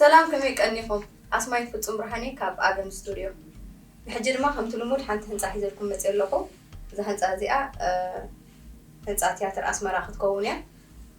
ሰላም ከመይ ቀኒኹም ኣስማይት ፍጹም ብርሃኔ ካብ ኣደም ስቱድዮ ብሕጂ ድማ ከምቲ ልሙድ ሓንቲ ህንጻ ሒዘልኩም መጽየ ኣለኹ እዛ ህንጻ እዚኣ ህንጻ ትያትር ኣስመራ ክትከውን እያ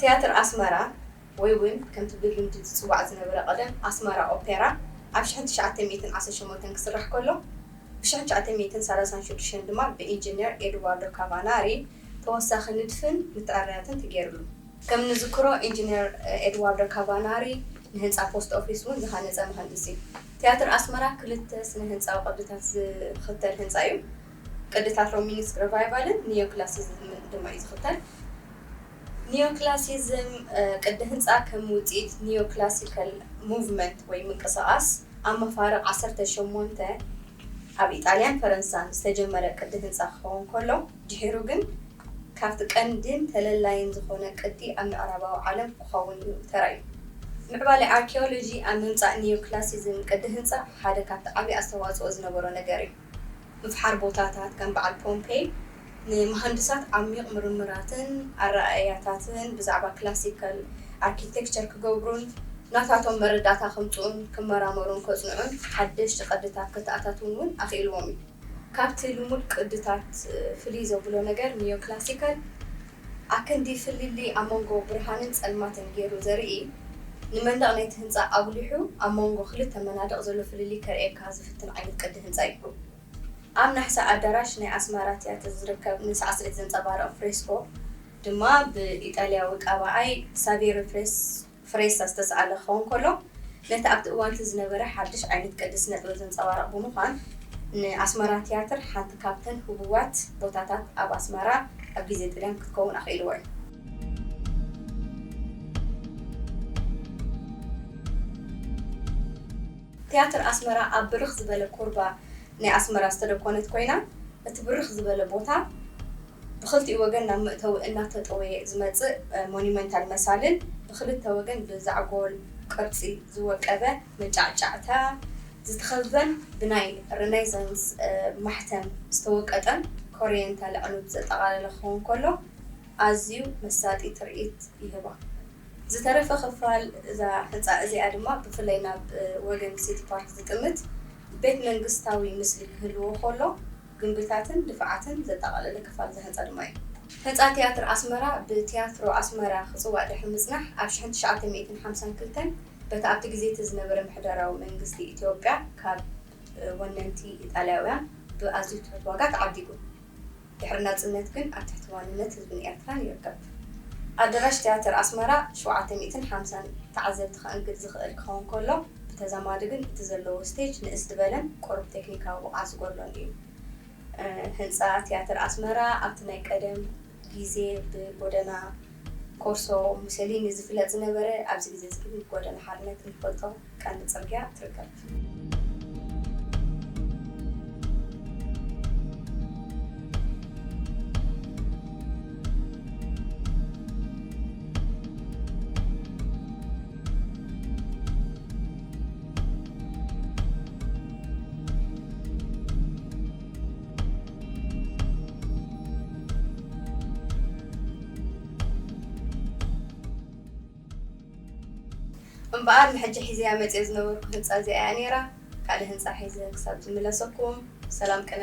ትያትር ኣስመራ ወይ ውን ከምቲ ብልምዲ ዝጽዋዕ ዝነበረ ቀደም ኣስመራ ኦፔራ ኣብ ሽሕን ትሽዓተ ሚእትን ዓሰርተ ሸሞንተን ክስራሕ ከሎ ብ ሽሕን ትሽዓተ ሚእትን ሰላሳን ሽዱሽተን ድማ ብ ኢንጂነር ኤድዋርዶ ካቫናሪ ተወሳኺ ንድፍን ምትዕርያትን ተጌርሉ። ከም ንዝክሮ ኢንጂነር ኤድዋርዶ ካቫናሪ ንህንጻ ፖስት ኦፊስ ውን ዝሃነጸ መሃንድስ ዩ። ትያትር ኣስመራ ክልተ ስነ ህንጻዊ ቅድታት ዝኽተል ህንጻ ዩ። ቅድታት ሮሚኒስክ ረቫይቫልን ኒዮክላሲዝምን ድማ እዩ ዝኽተል። ኒዮክላሲዝም ቅዲ ህንጻ ከም ውጽኢት ኒዮክላሲካል ሙቭመንት ወይ ምንቅስቓስ ኣብ መፋርቕ ዓሰርተ ሸሞንተ ኣብ ኢጣልያን ፈረንሳን ዝተጀመረ ቅዲ ህንጻ ክኸውን ከሎ፣ ድሒሩ ግን ካብቲ ቀንዲን ተለላይን ዝኾነ ቅዲ ኣብ ምዕራባዊ ዓለም ክኸውን እዩ ተራእዩ። ምዕባለ ኣርኪዮሎጂ ኣብ ምምጻእ ኒዮክላሲዝም ቅዲ ህንጻ ሓደ ካብቲ ዓቢ ኣስተዋጽኦ ዝነበሮ ነገር እዩ። ምፍሓር ቦታታት ከም በዓል ፖምፔይ ንመሃንድሳት ዓሚዩቕ ምርምራትን ኣረኣእያታትን ብዛዕባ ክላሲካል ኣርኪቴክቸር ክገብሩን ናታቶም መረዳእታ ከምጽኡን ክመራመሩን ከጽንዑን ሓደሽቲ ቅድታት ከተኣታትዉን እውን ኣኽኢልዎም እዩ። ካብቲ ልሙድ ቅድታት ፍልይ ዘብሎ ነገር ኒዮክላሲካል፣ ኣክንዲ ፍልልይ ኣብ መንጎ ብርሃንን ጸልማትን ጌሩ ዘርኢ፣ ንመንደቕ ናይቲ ህንጻ ኣጉሊሑ ኣብ መንጎ ክልተ መናድቕ ዘሎ ፍልልይ ከርእየካ ዝፍትን ዓይነት ቅዲ ህንጻ እዩ። ኣብ ናሕሲ ኣዳራሽ ናይ ኣስመራ ትያትር ዝርከብ ንሳዕስዒት ዘንጸባርቕ ፍሬስኮ ድማ ብኢጣልያዊ ቀባኣይ ሳቬሪ ፕሬስ ፍሬሳ ዝተሳእለ ክኸውን ከሎ፣ ነቲ ኣብቲ እዋን'ቲ ዝነበረ ሓድሽ ዓይነት ቅዲ ስነጥበብ ዘንጸባርቕ ብምዃን፣ ንኣስመራ ትያትር ሓንቲ ካብተን ህቡባት ቦታታት ኣብ ኣስመራ ኣብ ግዜ ጥልያን ክትከውን ኣኽኢልዎ እዩ። ትያትር ኣስመራ ኣብ ብርኽ ዝበለ ኩርባ ናይ ኣስመራ ዝተደኮነት ኮይና፣ እቲ ብርኽ ዝበለ ቦታ፣ ብኽልቲኡ ወገን ናብ መእተዊ እናተጠወየ ዝመጽእ ሞኒመንታል መሳልል ብኽልተ ወገን ብዛዕጎል ቅርጺ ዝወቀበ መጫዕጫዕታ ዝተኸበበን ብናይ ረኔሳንስ ማሕተም ዝተወቀጠን ኮርየንታል ኣዕኑድ ዘጠቓለለ ክኸውን ከሎ ኣዝዩ መሳጢ ትርኢት ይህባ። ዝተረፈ ክፋል እዛ ህንጻ እዚኣ ድማ ብፍላይ ናብ ወገን ሲቲ ፓርክ ዝጥምት ቤት መንግስታዊ ምስሊ ክህልዎ ከሎ፣ ግምብታትን ድፋዓትን ዘጠቓለለ ክፋል ዝሃንጻ ድማ እዩ። ህንጻ ትያትር ኣስመራ ብትያትሮ ኣስመራ ክጽዋዕ ድሕሪ ምጽናሕ ኣብ ሽሕን ትሽዓተ ሚእትን ሓምሳን ክልተን በቲ ኣብቲ ግዜ'ቲ ዝነበረ ምሕደራዊ መንግስቲ ኢትዮጵያ ካብ ወነንቲ ኢጣልያውያን ብኣዝዩ ትሑት ዋጋ ተዓዲጉ ድሕሪ ናጽነት ግን ኣብ ትሕቲ ዋንነት ህዝብን ኤርትራን ይርከብ። ኣደራሽ ትያትር ኣስመራ ሸውዓተ ሚእትን ሓምሳን ተዓዘብቲ ከእንግድ ዝኽእል ክኸውን ከሎ፣ ብተዛማዲ ግን እቲ ዘለዎ ስቴጅ ንእስ ዝበለን ቁሩብ ቴክኒካዊ ብቕዓት ዝጎድሎን እዩ። ህንጻ ትያትር ኣስመራ ኣብቲ ናይ ቀደም ግዜ ብጎደና ኮርሶ ሙሰሊኒ ዝፍለጥ ዝነበረ፣ ኣብዚ ግዜ እዚ ግን ብጎደና ሓርነት እንፈልጦ ቀንዲ ጽርግያ ትርከብ። እምበኣር ንሕጂ ሒዘያ መጽየ ዝነበርኩ ህንጻ እዚኣ እያ ነይራ። ካልእ ህንጻ ሒዘ ክሳብ ዝምለሰኩም ሰላም ቅነ።